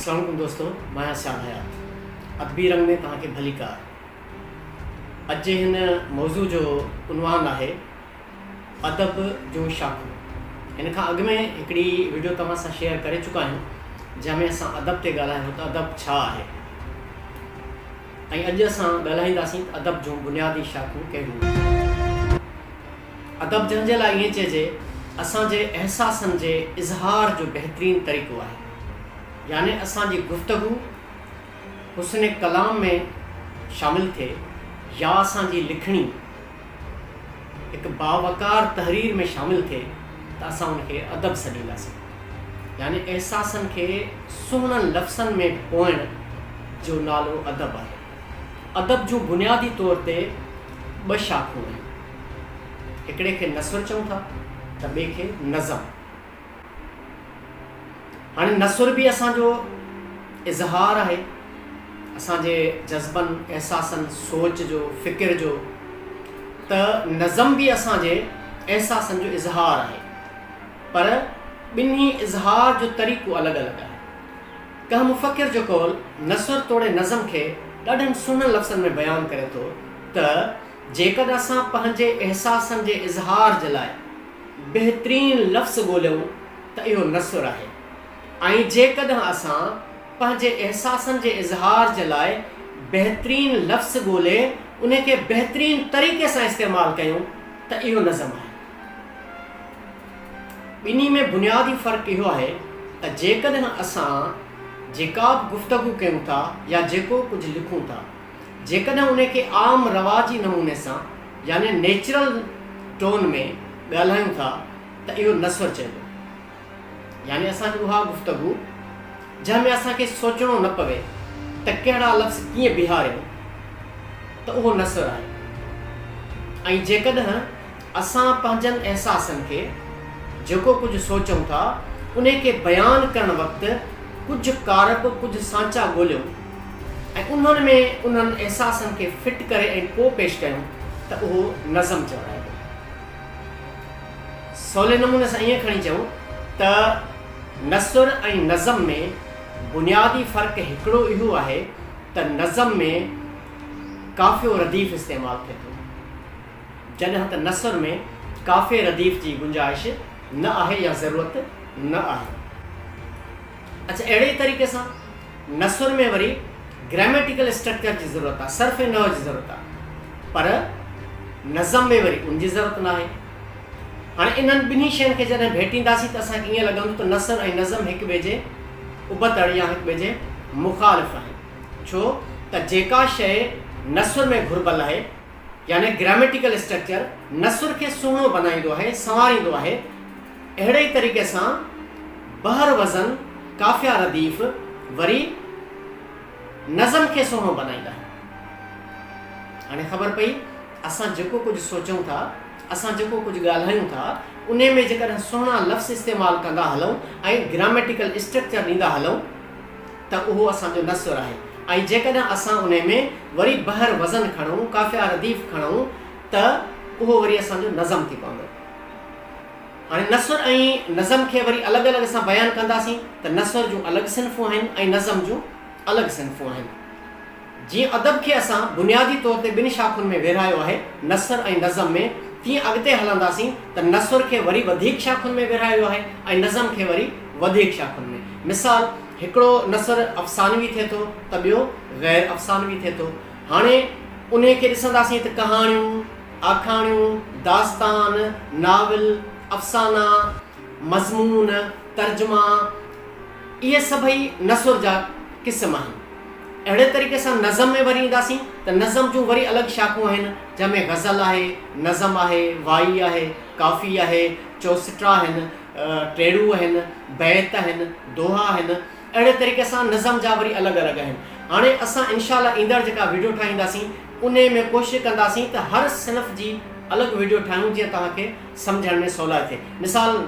اسلام عليڪم دوستو ماهيان سيان حيات ادبي رنگ ۾ توهان کي ڀليڪار اڄ جي هن موضوع جو عنوان آهي ادب جون شاخون هن کان اڳ ۾ هڪڙي ويڊيو توهان سان شيئر ڪري چڪا آهيون جنهن ۾ اسان ادب تي ڳالهايو ته ادب ڇا آهي ۽ اڄ اسان ڳالهائينداسين ته ادب جون بنيادي شاخون ڪهڙيون آهن. ادب جنهن جي لاء ائين چئجي اسان جي احساسن جي اظهار جو بهترين طريقو آهي يعني اسان جي گفتگو حسن ڪلام ۾ شامل ٿئي يا اسان جي لکڻي هڪ باوقار تحرير ۾ شامل ٿئي ته اسان ان کي ادب سڏينداسين. يعني احساسن کي سهڻن لفظن ۾ پوئڻ جو نالو ادب آهي. ادب جون بنيادي طور تي ٻه شاخون آهن. هڪڙي کي نثر چئون ٿا ته ٻئي کي نظم. هاڻي نثر به اسان جو اظهار آهي، اسان جي جذبن، احساسن، سوچ جو، فڪر جو، ته نظم به اسان جي احساسن جو اظهار آهي، پر ٻنهي اظهار جو طريقو الڳ الڳ آهي. ڪنهن مفڪر جو قول نثر توڙي نظم کي ڏاڍن سهڻن لفظن ۾ بيان ڪري ٿو ته جيڪڏهن اسان پنهنجي احساسن جي اظهار جي لاء، بهترين لفظ ڳوليون ته اهو نثر آهي ۽ جيڪڏهن اسان پنهنجي احساسن جي اظهار جي لاء بهترين لفظ ڳولي انهي کي بهترين طريقي سان استعمال ڪيون ته اهو نظم آهي. ٻنهي ۾ بنيادي فرق اهو آهي ته جيڪڏهن اسان جيڪا به گفتگو ڪيون ٿا يا جيڪو ڪجهه لکون ٿا. جيڪڏهن ان کي عام رواجي نموني سان يعني نيچرل ٽون ۾ ڳالهايون ٿا ته اهو نثر چئبو. يعني اسان جي اها گفتگو جنهن ۾ اسان کي سوچڻو نه پوي ته ڪهڙا لفظ ڪيئن بيهاريون ته اهو نثر آهي ۽ جيڪڏهن اسان پنهنجن احساسن کي، جيڪو ڪجهه سوچون ٿا، انهي کي بيان ڪرڻ وقت ڪجهه ڪارپ، ڪجهه سانچا ڳوليون ۽ انهن ۾ انهن احساسن کي فٽ ڪري ۽ پوء پيش ڪيون ته اهو نظم چورائبو. سولي نموني سان ائين کڻي چئون ته نثر ۽ نظم ۾ بنيادي فرق هڪڙو اهو آهي ته نظم ۾ قافيو رديف استعمال ٿئي ٿو. جڏهن ته نثر ۾ قافيي رديف جي گنجائش نه آهي يا ضرورت نه آهي. اچ اهڙي ئي طريقي سان نثر ۾ وري گراميٽيڪل اسٽرڪچر جي ضرورت آهي، صرف ۽ نحو جي ضرورت آهي، پر نظم ۾ وري ان جي ضرورت نه آهي. هاڻي انهن ٻنهي شين کي جڏهن ڀيٽينداسين ته اسان کي ائين لڳندو ته نثر ۽ نظم هڪ ٻئي جي ابتڙ يا هڪ ٻئي جي مخالف آهن، ڇو ته جيڪا شيء نثر ۾ گهربل آهي، يعني گراميٽيڪل اسٽرڪچر نثر کي سهڻو بنائيندو آهي، سنواريندو آهي. اهڙي ئي طريقي سان بحر وزن، قافيه رديف وري نظم کي سهڻو بنائيندا آهن. هاڻي خبر پئي اسان جيڪو ڪجهه سوچون ٿا، اسان جيڪو ڪجهه ڳالهايون ٿا، انهي ۾ جيڪڏهن سهڻا لفظ استعمال ڪندا هلون ۽ گراميٽيڪل اسٽرڪچر ڏيندا هلون ته اهو اسان جو نه سر آهي ۽ جيڪڏهن اسان انهي ۾ وري بحر وزن کڻون، قافيه رديف کڻون ته اهو وري اسان جو نظم ٿي پوندو. هاڻي نثر ۽ نظم کي وري الڳ الڳ اسان بيان ڪنداسين ته نثر جون الڳ صنفون آهن ۽ نظم جون الڳ صنفون آهن. جيئن ادب کي اسان بنيادي طور تي ٻن شاخن ۾ ورهايو آهي، نثر ۽ نظم ۾، تيئن اڳتي هلنداسين ته نثر کي وري وڌيڪ شاخن ۾ ورهايو ويو آهي ۽ نظم کي وري وڌيڪ شاخن ۾. مثال، هڪڙو نثر افسانوي ٿئي ٿو ته ٻيو غير افسانوي ٿئي ٿو. هاڻي انهيء کي ڏسنداسين ته ڪهاڻيون، آکاڻيون، داستان، ناول، افسانا، مضمون، ترجما، اهي سڀئي نثر جا قسم آهن. اهڙي طريقي سان نظم ۾ وري اينداسين ته نظم جون وري الڳ شاخون آهن، جنهن ۾ غزل آهي، نظم آهي، وائي آهي، ڪافي آهي، چؤسٽا آهن، ٽيڙو آهن، بيت آهن، دوها آهن. اهڙي طريقي سان نظم جا وري الڳ الڳ آهن. هاڻي اسان انشاء الله ايندڙ جيڪا ويڊيو ٺاهينداسين انهي ۾ ڪوشش ڪنداسين ته هر صنف جي الڳ ويڊيو ٺاهيون جيئن توهان کي سمجهڻ ۾ سولائي ٿئي. مثال.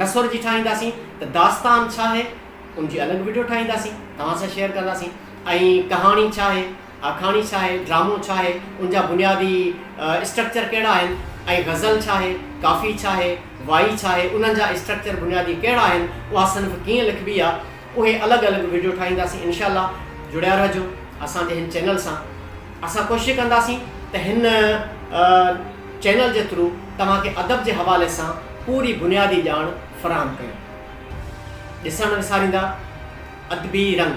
نثر جي ٺاهينداسين ته داستان ڇا آهي ان جي الڳ وڊيو ٺاهينداسين توهان سان شيئر ڪنداسين ۽ ڪهاڻي ڇا آهي آکاڻي ڇا آهي ڊرامو ڇا آهي ان جا بنيادي اسٽرڪچر ڪهڙا آهن ۽ غزل ڇا آهي ڪافي ڇا آهي وائي ڇا آهي انهن جا اسٽرڪچر بنيادي ڪهڙا آهن اها صنف ڪيئن لکبي آهي اهي الڳ الڳ وڊيو ٺاهينداسين انشاء الله جڙيا رهجو اسان جي هن چينل سان اسان ڪوشش ڪنداسين ته هن چينل جي ٿرو توهان کي ادب جي حوالي سان پوري بنيادي ڄاڻ فراهم ڪيون ڏسڻ نه وساريندا ادبي رنگ